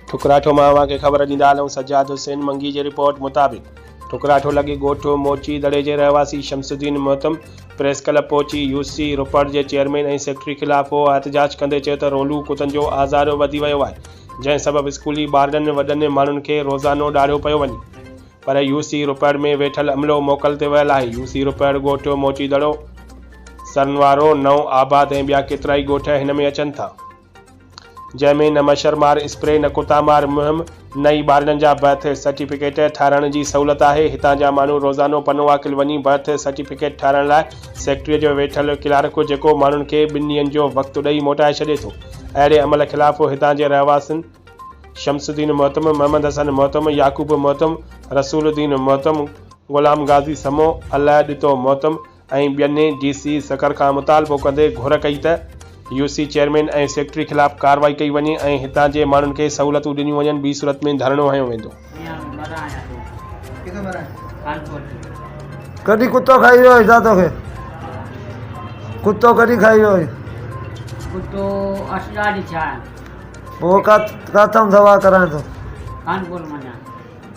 ٺڪراٺو مان اوهان کي خبر ڏيندا هلون سجاد حسين منگي جي رپورٽ مطابق ٺڪراٺو لڳي ڳوٺ موچي دڙي جي رهواسي شمس الدين محتم پريس ڪلب پهچي يو سي روپڙ جي چيئرمين ۽ سيڪريٽري خلاف هو احتجاج ڪندي چيو ته رولو ڪتن جو آزار وڌي ويو آهي جنهن سبب اسڪولي ٻارڙن وڏن ماڻهن کي روزانو ڏاڙهيو پيو وڃي پر يو سي روپڙ ۾ ويٺل عملو موڪل تي ويل آهي يو سي روپڙ ڳوٺ موچي دڙو سرنوارو نئون آباد ۽ ٻيا ڪيترائي ڳوٺ هن ۾ اچن ٿا. جنهن ۾ نه مڇر مار اسپري نه ڪتا مار مهم نه ئي ٻارڙن جا برٿ سرٽيفڪيٽ ٺاهرائڻ جي سهولت آهي هتان جا ماڻهو روزانو پنوواڪل وڃي برٿ سرٽيفڪيٽ ٺاهرائڻ لاء سيڪريٽريء جو ويٺل ڪلارڪ جيڪو ماڻهن کي ٻن ڏينهن جو وقت ڏئي موٽائي ڇڏي ٿو اهڙي عمل خلاف هتان جي رهواسين شمس الدين محتم محمد حسن محتم يعقوب محتم رسول الدين محتم غلام غازي سمو الله ڏتو محتم ۽ ٻين ڊي سي سکر کان مطالبو ڪندي گهر ڪئي ته يو سي چيئرمين ۽ سيڪريٽري خلاف ڪارروائي ڪئي وڃي ۽ هتان جي ماڻهن کي سهولتون ڏنيون وڃن ٻي صورت ۾ ڌرڻو هنيو ويندو. ڪڏھن ڪتو کائي ويو آھين ڇا توکي ڪتو ڪڏھن کائي ويو آھين. ڪتو اش ڏاڍي ڇا. پوء ڪا ڪاٿئون دوا ڪرائين ٿو. خانپور منجھان.